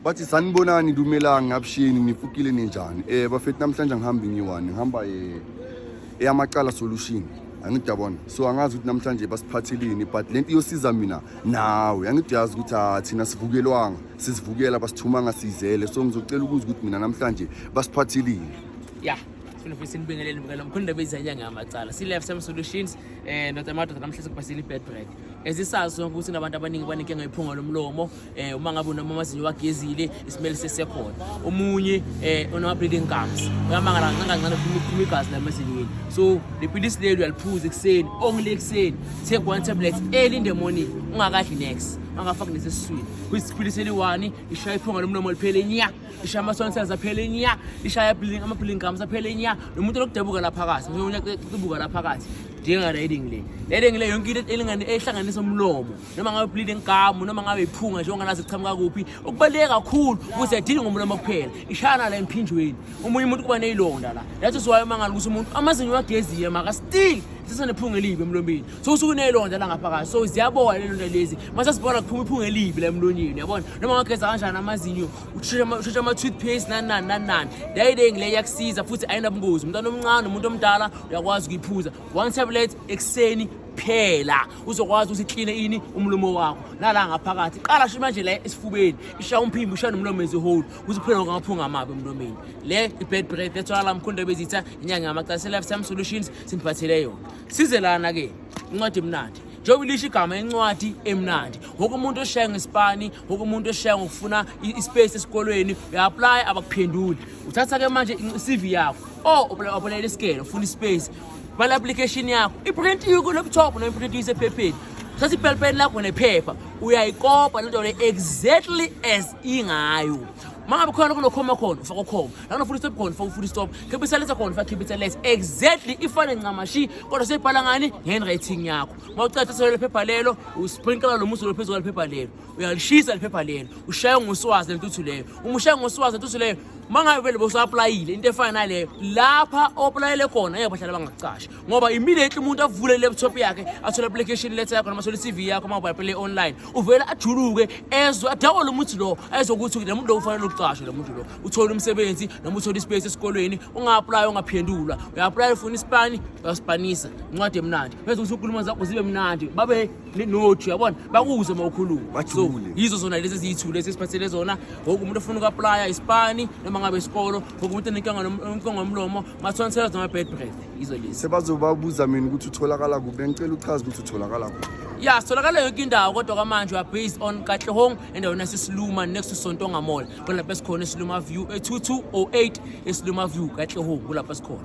bathi sanibonani lumelanga abusheni nifukile ninjani um bafethi namhlanje ngihambe ngiwani ngihamba um eyamacala solution angidabona so angazi ukuthi namhlanje basiphathelini but le nto iyosiza mina nawe angidiyazi ukuthi ah, thina sivukelwanga sizivukela basithumanga sizele so ngizocela ukuza ukuthi mina namhlanje basiphathelini ya sifuna futhi sinibingelele mbukela mkhulu ndaba izanya ngamacala si-life time solutions um ndoda amadoda namhlanje kubasile i-bed break ezisazi sonke ukuthi nabantu abaningi banenkinga iphunga lomlomo eh uma ngabe unoma amazinyo wagezile isimele sesekhona omunye eh onama bleeding gums uyamangala kancane kancane phuma igazi la mazinyweni so le pilisi leli uyaliphuza ekuseni only ekuseni take one tablet early in the morning ungakadli next angafaki nesesiswini kuyisipilisi eliwani ishaya iphunga lomlomo liphele nya ishaya amasonsels aphele nya ishaya ama-bleeding gums aphele nya nomuntu lokudabuka laphakathi njengokubuka laphakathi njenga-riding le riding le yonke into ehlanganisa umlomo noma ngabe ublile inkamu noma ngabe iphunga nje onganazi kuchamuka kuphi okubaluleke kakhulu ukuthi adili ngomlomo kuphela ishayana la emphinjweni omunye umuntu kuba neyilonda la that is why umangala ukuthi umuntu amazinyo wageziye maka still sisenephunga elibi emlombeni so usuke uneyilonda la ngaphakathi so ziyabola lelonda lezi mase sibona kuphuma iphunga elibi la emlonyeni yabona noma ngageza kanjani amazinyo ushesha ama-toothpaste nani nani nani nani dayide ngile iyakusiza futhi ayinabungozi umntwana omncane umuntu omdala uyakwazi ukuyiphuza one tablet ekuseni kuphela uzokwazi ukuthi kline ini umlomo wakho nala ngaphakathi qala sho manje la esifubeni ishaya umphimbo ishaya nomlomo as a whole kuze kuphele konke amaphunga amabi emlomeni le i-bad breath that's why lamkhonda bezitha inyanga yamacase lifetime solutions simphathele yona size lana ke incwadi emnandi njengoba ilisho igama incwadi emnandi woke umuntu oshaya ngesipani woke umuntu oshaya ngokufuna ispace esikolweni uya-aplya abakuphenduli uthatha-ke manje i-cv yakho o oh, uapulayela isikele ufuna ispace bhala application yakho iprint yiko laptop no iprint isephepheni thatha ipelipeni lakho nephepha uyayikopa lento le exactly as ingayo mangabe khona kunokhoma khona ufaka ukhoma lakunofuna istop khona ufaka ufuna istop khipha isalesa khona ufaka khipha isalesa exactly ifane ncamashi kodwa seyibhala ngani ngehandwriting yakho mawucatha solo lephepha lelo usprinkela lo muzi lophezulu lephepha lelo uyalishisa liphepha lelo ushaye ngoswazi lentuthu leyo uma ushaye ngoswazi lentuthu leyo uma ngabe vele bosaaplayile into efana naleyo lapha opulayele khona ngeke bahlale bangakucasha ngoba immediately umuntu avule i-laptop yakhe athole application letter yakho noma athole i-cv yakho uma ubhayipele online uvele ajuluke ezwe adakwe lo muntu lo ezwe ukuthi lo muntu lo ufanele ukucashwa lo muntu lo uthole umsebenzi noma uthole ispace esikolweni unga-aplaya ungaphendula uya-aplaya ufuna isipani uyasipanisa incwadi emnandi bese ukuthi unkulumo zakho zibe mnandi babe ninoju yabona bakuze uma ukhuluma so yizo zona lezi eziyithu lezi esiphathele zona ngoku umuntu ofuna uku-aplaya isipani noma ngabe isikolo ngoku umuntu enenkonga omlomo mathola ngisela zona ama-bad breath yizo lezi sebazobabuza mina ukuthi utholakala kuphi bengicela uchaza ukuthi utholakala kuphi ya sitholakala yonke indawo kodwa kwamanje we are based on katlehong endaweni yasesiluma next to sontonga mall kulapho esikhona esiluma view e-2208 esiluma view katlehong kulapho esikhona